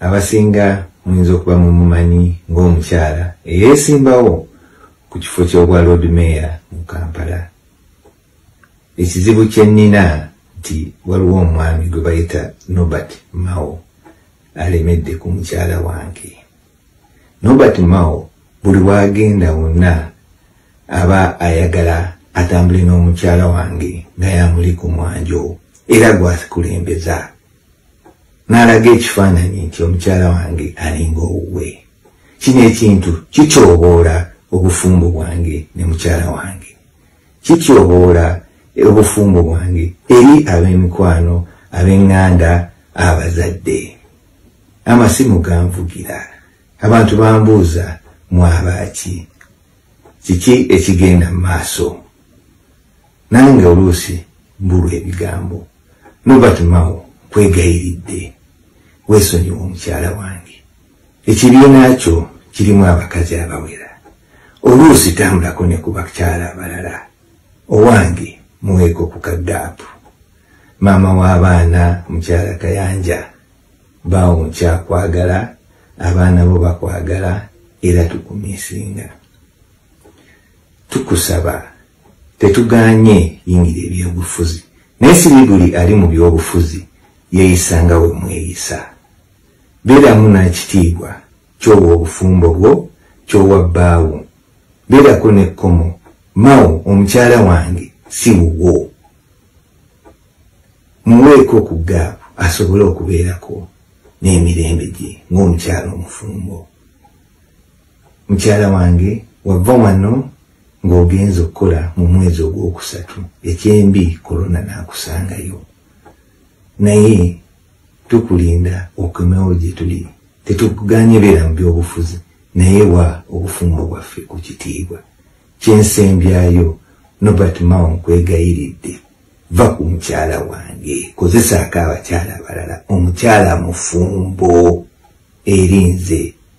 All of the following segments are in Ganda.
Abasinga muyinza okuba mumumanyi ng'omukyala eyeesimbawo ku kifo ky'obwa Lord Mayor mu Kampala. Ekizibu kye nnina nti waliwo omwami gwe bayita Nobert Mao alemedde ku mukyala wange. Nobert Mao buli w'agenda wonna aba ayagala atambule n'omukyala wange nga yamuli ku mwanjo era gwakulembeza. n'alaga ekifaananyi nti omukyala wange alinga owuwe kino ekintu kityoboola obufumbo bwange ne mukyala wange kityoboola obufumbo bwange eri ab'emikwano ab'eŋŋanda abazadde amasimu ganvugira abantu bambuuza mwabaaki kiki ekigenda mu maaso nange oluusi mbulwa ebigambo nobert mao kwegayiridde weesonyiwa omukyala wange ekibiina kyo kirimu abakazi abawera oluusi tambulako ne ku bakyala abalala owange muweeko ku kaddaapu maama w'abaana mukyala kayanja baawo nkyakwagala abaana bo bakwagala era tukumisinga tukusaba tetuganye yingira ebyobufuzi naye siri buli ali mu byobufuzi yeeyisa nga we mweyisa beeramu n'ekitiibwa kyowa obufumbo bwo kyowa bbaawo beerako n'ekkomo mao omukyala wange si wuwo muweeko ku gaapu asobole okubeerako n'emirembe gye ng'omukyala omufumbo mukyala wange wava wano ng'ogenza okukola mu mwezi ogwokusatu ekyembi korona n'akusangayo naye tukulinda okomewo gye tuli tetukuganye beera mu byobufuzi naye wa obufumbo bwaffe ku kitiibwa kyensembyayo nobert mao nkwegayiridde va ku mukyala wange kozesaako abakyala abalala omukyala mufumbo erinze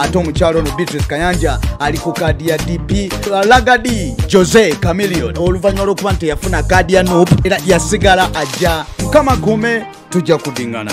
ate omukyalo ono beatrice kayanja ali ku kaadi ya dp lagadi jose camilion oluvannyuma lwokuba nti teyafuna kaadi ya nup era yasigala ajja mukama kume tujja kudingana